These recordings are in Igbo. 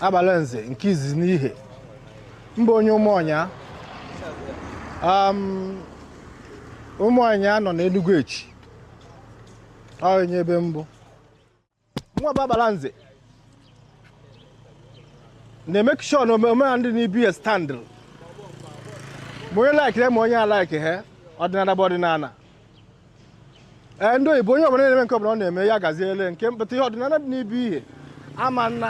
Agbalanze nke izizi n'Ihe m bụ onye Ụmụọnya Ụmụọnya nọ n'Enugu Echi onye ebe mbụ nwa bụ Agbalanze na-emek sure na omenala dị n'ibe Ihe standịl ma onye laikere ma onye alaike ha ọdịnala bụ ọdịnala ee ndị oyibo onye ọbụla na-eme nke ọbụla ọ na-eme ya gaziele nke mpụta ihe ọdịnala dị n'ibe Ihe ama nna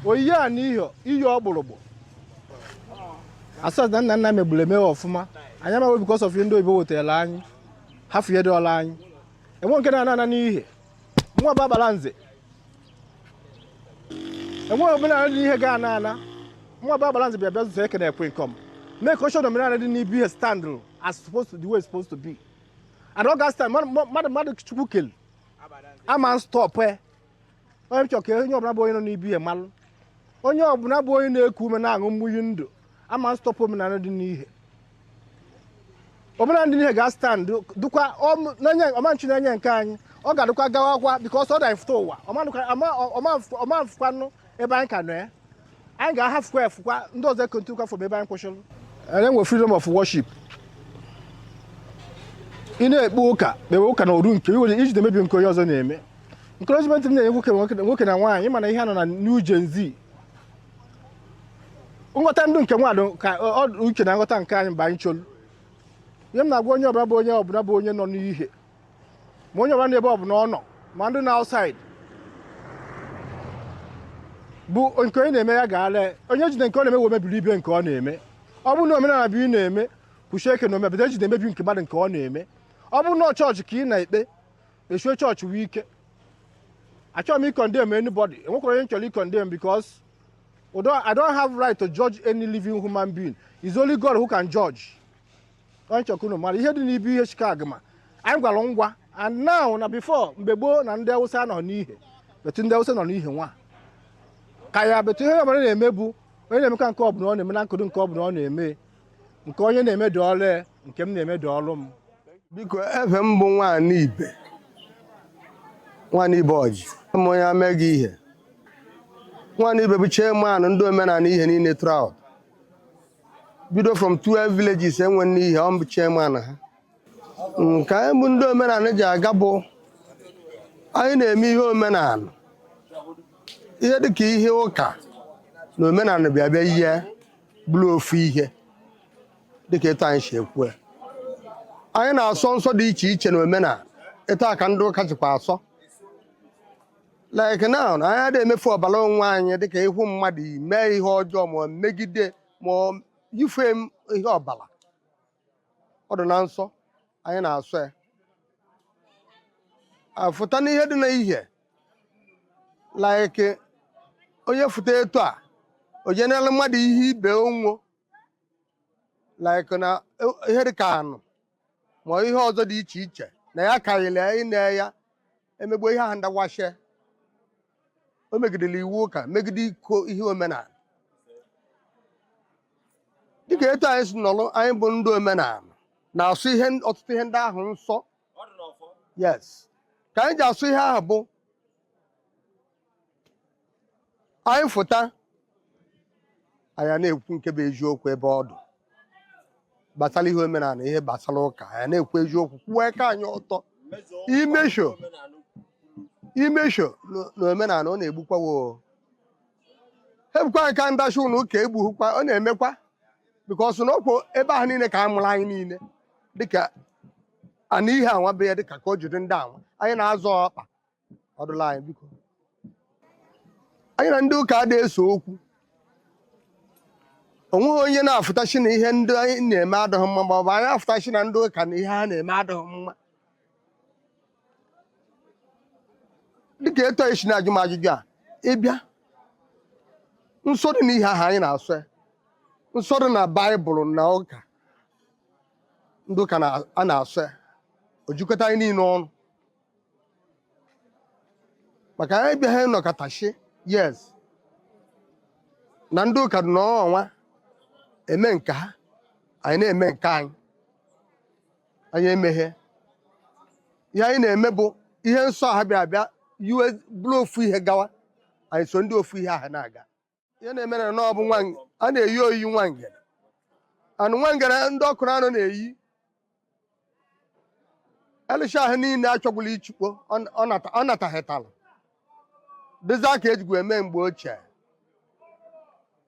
oyiyi a na ihe iyi ọgbụrụgbụ asọs na nna nna megburu emewe ọfụma anyị amaghị bikos of ndị oyibo wetara anyị ha fụnyedịọla anyị enwe nke na-ana ana n'Ihe nwa bụ Agbalanze enwe omenala dị n'Ihe ga-ana ana nwa bụ Agbalanze bịa bịa zụta ekene ekwe nkọm mee ka oche omenala dị n'ibe Ihe standụrụ as supposed to the way it's supposed to be and ọ ga-astand mmadụ Chukwu kele ama stọpụ ya ọ ihe m chọrọ ka onye ọbụla bụ onye nọ n'ibe Ihe malụ onye ọbụla bụ onye na-eku ume na-aṅụ munyi ndụ ama stọpụ omenala dị n'Ihe omenala dị n'Ihe ga-astand dụkwa ọm- n'enye- ọ ma nchi n'enye nke anyị ọ ga-adịkwa gawakwa bikos ọ dị afụta ụwa ọmanụkwa- ọma- ọma- ọ ma fukwanụ ebe anyị ka nọ ya anyị ga-ahafukwa efukwa ndị ọzọ ekontinukwa from ebe anyị kwụsịrị anyị nwe freedom of worship ị na-ekpe ụka kpewe ụka na oru nke iwere iji mebi nke onye ọzọ na-eme encouragement m na-enye nwoke nwoke na nwaanyị mana ihe a nọ na New Gen Z nghọta ndụ nke nwaadụ ka uche na nghọta nke anyị mgbe anyị cholu ihe m na-agwa onye ọbụla bụ onye ọbụla bụ onye nọ n'Ihe ma onye ọbụla n'ebe ọ bụla ọ nọ ma ndị na outside bụ nke onye na-eme ya gaala onye jide nke ọ na-eme wee mebiri ibe nke ọ na-eme ọ bụrụ na omenala bụ ị na-eme kwụchie ike na omenala jide emebi nke mmadụ nke ọ na-eme ọ bụrụ na chọọchị ka ị na-ekpe kpechie chọọchị wee ike achọghị m ikondem anybody enwekwara onye m chọrọ ikondem because although I don't have right to judge any living human being it's only God who can judge ọ ihe m chọrọ ka unu mara ihe dị n'ibe Ihe Shikeaguma anyị gwara ngwa and now na before mgbe gboo na ndị Awụsa nọ n'Ihe betu ndị Awụsa nọ n'Ihe nwa ka ya betu ihe ọbụla na-eme bụ onye na-eme ka nke ọbụla ọ na-eme na nkudu nke ọbụla ọ na-eme nke onye na-eme dịrị ya, nke m na-eme dịrị m biko afa m bụ nwaanyị ibe nwaanyị ibe Ọjị m onye Amagu Ihe nwaanyị ibe bụ chairman ndị omenala Ihe niile throughout bido from 12 villages e nwe n'Ihe ọ bụ chairman ha nke anyị bụ ndị omenala ji aga bụ anyị na-eme ihe omenala ihe dịka ihe ụka na omenala bịa bịa ihe bụrụ ofu ihe dịka etu anyị si ekwu ya. anyị na-asọ nsọ dị iche iche na omenala etu a ka ndị ụka jikwa asọ like now na anyị adịghị emefu ọbara onwe anyị dịka ịhụ mmadụ ime ihe ọjọọ ma ọ megide ma ọ yife m ihe ọbara ọ dị na nsọ anyị na-asọ ya afụta n'ihe dị na ihe like onye fụta etu a o jenela mmadụ ihe ibe onwo like na ihe dị ka anụ ma ihe ọzọ dị iche iche na ya karịrị ịna ya emegbo ihe ahụ ndị anwa shị o megidere iwu ụka megide iko ihe omenala dịka etu anyị si nọrọ anyị bụ ndị omenala na-asọ ọtụtụ ihe ndị ahụ nsọ yes ka anyị ji asọ ihe ahụ bụ anyị fụta anyị na-ekwu nke bụ eziokwu ebe ọ dụ gbasara ihe omenala ihe gbasara ụka anyị na-ekwu eziokwu kwuo aka anyị ọtọ imesho imesho na- na omenala ọ na-egbukwa wo egbukwa nka ndachi ụlọ ụka egbughịkwa ọ na-emekwa bikos na ọkwa ebe ahụ niile ka a mụrụ anyị niile dịka ana ihe anwa bụ ya dịka ka o jiri ndị anwa anyị na-azọ ọkpa ọdụla anyị biko anyị na ndị ụka adịghị ese okwu onweghị onye na-afụta shị na ihe ndị anyị na-eme adịghị mma ma ọ bụ anyị afụta shị na ndị ụka na ihe ha na-eme adịghị mma dịka etu i si na-ajụ m ajụjụ a ịbịa nsọ dị n'ihe ahụ anyị na-asọ ya nsọ dị na baịbụl na ụka ndị ụka na- a na-asọ ya o jikọta anyị niile ọnụ maka anyị bịaghị nọkọta shị yes na ndị ụka dị n'ọnwa eme nke ha anyị na-eme nke anyị anyị emeghe ihe anyị na-eme bụ ihe nsọ ha bịa abịa yiwe bụrụ ofu ihe gawa anyị so ndị ofu ihe ahụ na-aga ihe na-emere na ọ bụ nwa a na-eyi oyi nwa ngere anụ nwa ngere ndị ọkụ na anụ na-eyi erishi ahụ niile achọgbula ichukpo ọ nataghịtala dịza ka ejigwa eme mgbe ochie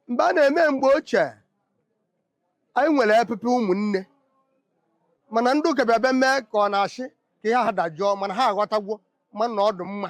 mgbe a na-eme mgbe ochie anyị nwere epepe ụmụnne mana ndị ụka bịa bịa mee ka ọ na-achị ka ihe ha dajụọ mana ha aghọtagwo mana ọ dị mma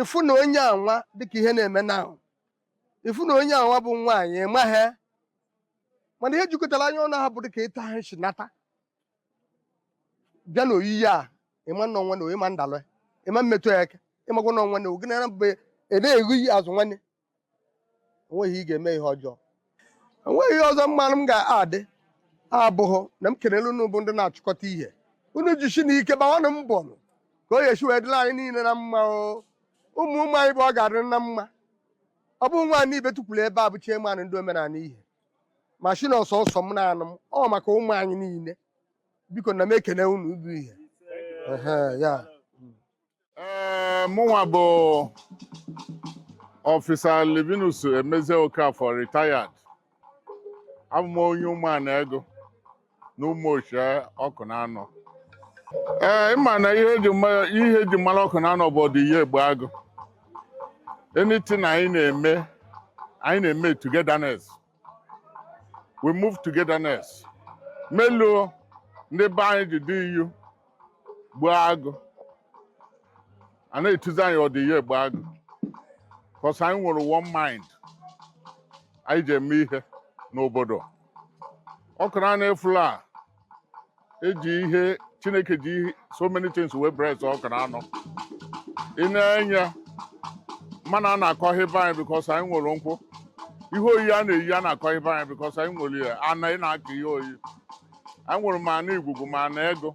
ịfụ na onye anwa dịka ihe na-eme na ahụ ịfụ na onye anwa bụ nwaanyị ịmaghị mmadụ ihe jikọtara anyị ọnụ ha bụ dịka etu ha si nata bịa na oyiyi a ịma nwanne ịma ndalụ ịma mmetụ ya eke ịmakwa nwanne ogenara mgbe ị na-eghu iyi azụ nwanne onweghị ị ga-eme ihe ọjọọ enweghị ihe ọzọ m ma na m ga-adị abụghị na m kelele unu bụ ndị na-achịkọta ihe unu jisi na ike gbawanụ mbọ nụ ka ọ ya-esi wee dịla anyị niile na mma o ụmụ ụmụ anyị bụ ọ ga-adịrị na mma ọ bụ nwaanyị ibe tukwuru ebe a bụ chairman ndị mere ihe mashin ọsọsọ m na-anụ m ọ maka ụmụ anyị niile biko na m ekele unu bụ ihe Ehe, ya ee mụnwa bụ officer Livinus Emezie Okafor retired abụ m onye ụmụana ego na ụmụ ochie Ọkụnanọ ee ịma na ihe eji mma- ihe eji mara Ọkụnanọ bụ ọdị iyu egbu agụ anything anyị na-eme anyị na-eme togetherness we move togetherness melu ndị be anyị ji dị iyu gbuo agụ a na-etuzi anyị ọdị iyu egbu agụ cause anyị nwere one mind anyị ji eme ihe n'obodo Ọkụnanọ fula a eji ihe chineke ji so many things wee bless Ọkụnanọ i nee anya mmanụ a na-akọ ihe be anyị because anyị nwere nkwụ ihe oyi a na-eyi a na-akọ ihe be anyị because anyị nwere ya ana ị na-akọ ihe oyi anyị nwere ma ana igwugwu ma ana egu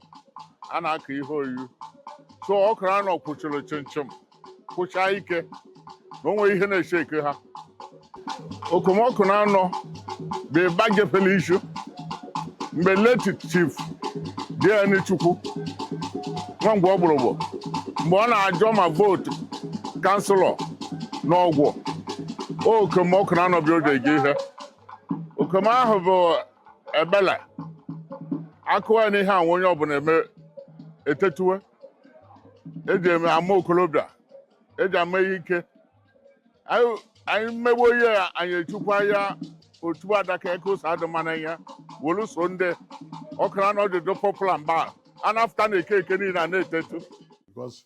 a na-akọ ihe oyi so Ọkụnanọ kwụchiri chịmchịm kwụchaa ike na onwe ihe na-eche eke ha okom Ọkụnanọ bụ ịba gefele isu mgbe late chief DN chukwu nwa mgbe ogburugbu mgbe ọ na-ajọ ma vote councillor na ọgwụ okom Ọkụnanọ bịa oge gị ihe okom ahụ bụ ebele akụwa ya n'ihe anwụ onye ọbụla eme etetuwe eji eme ama okorobịa eji ama ihe ike anyị anyị mmegbu ihe a anyị echukwa ya otu adaka eke ụsọ adị mma na ya wolu so ndị Ọkụnanọ ji dị popular mba a. a na-afụta na eke eke niile a na-etetu because